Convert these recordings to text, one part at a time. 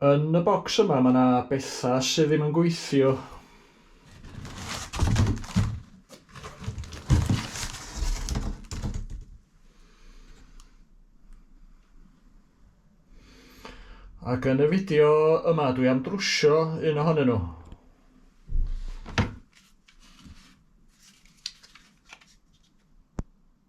Yn y bocs yma mae 'na betha sydd ddim yn gweithio. Ac yn y fideo yma dwi am drwsio un ohonyn nhw.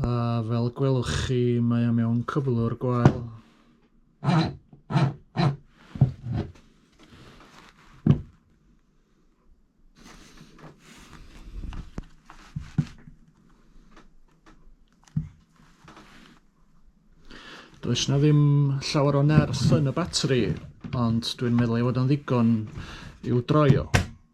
A fel gwelwch chi, mae o mewn cyflwr gwael. Does na ddim llawer o nerth yn y batri, ond dwi'n meddwl ei fod o'n ddigon i'w droi o.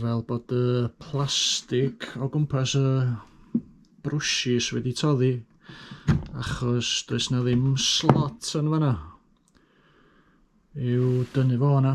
fel bod y plastig o gwmpas y brwshys wedi toddi achos does na ddim slot yn fanna i'w dynnu fo hwnna.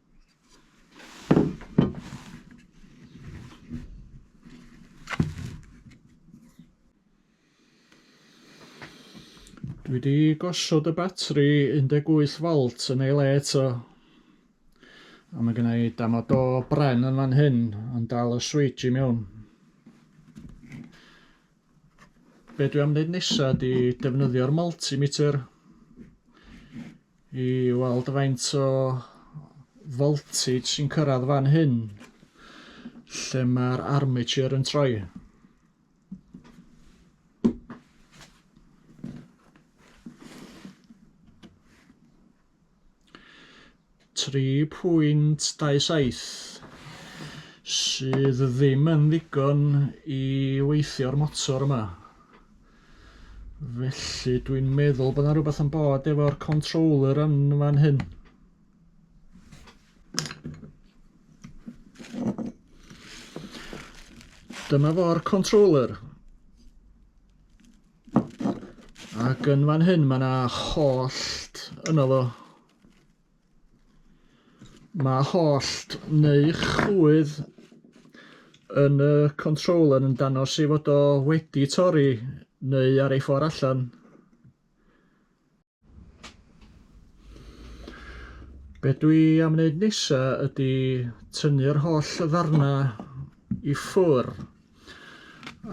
Dwi wedi gosod y batri 18 volt yn ei le eto. A mae gennau damod o bren yn fan hyn yn dal y switch i mewn. Be dwi am wneud nesa di defnyddio'r multimeter i weld faint o voltage sy'n cyrraedd fan hyn lle mae'r armature yn troi. 3.27 sydd ddim yn ddigon i weithio'r motor yma felly dwi'n meddwl bod yna rhywbeth yn bod efo'r controller yn fan hyn dyma fo'r controller Ac yn fan hyn mae yna hollt yno fo. Mae hollt neu chwydd yn y controller yn danos ei fod o wedi torri neu ar ei ffordd allan. Be dwi am wneud nesa ydy tynnu'r holl ddarna i ffwr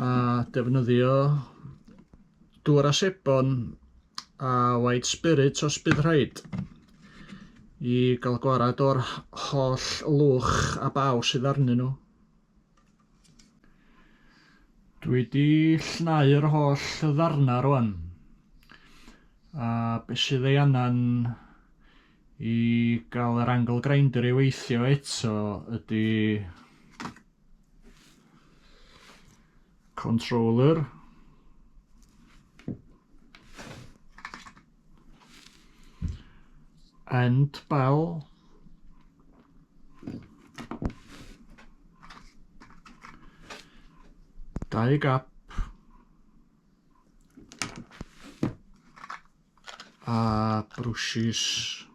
a defnyddio dŵr a sebon a white spirit os bydd rhaid i gael gwarad o'r holl lwch a baw sydd arnyn nhw. Dwi di llnau'r holl ddarna rwan. A be sydd ei angen i gael yr angle grinder i weithio eto ydy controller And bell. Dau gap. A brwshys.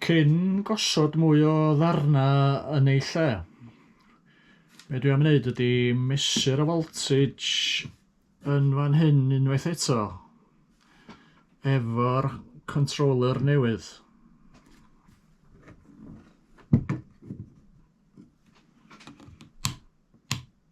Cyn gosod mwy o ddarnau yn eu lle, be dwi am wneud ydy mesur y voltage yn fan hyn unwaith eto efo'r controller newydd.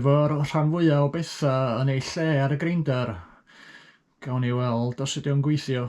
efo'r rhan fwyaf o bethau yn ei lle ar y greindar. Gawn ni weld os ydy o'n gweithio.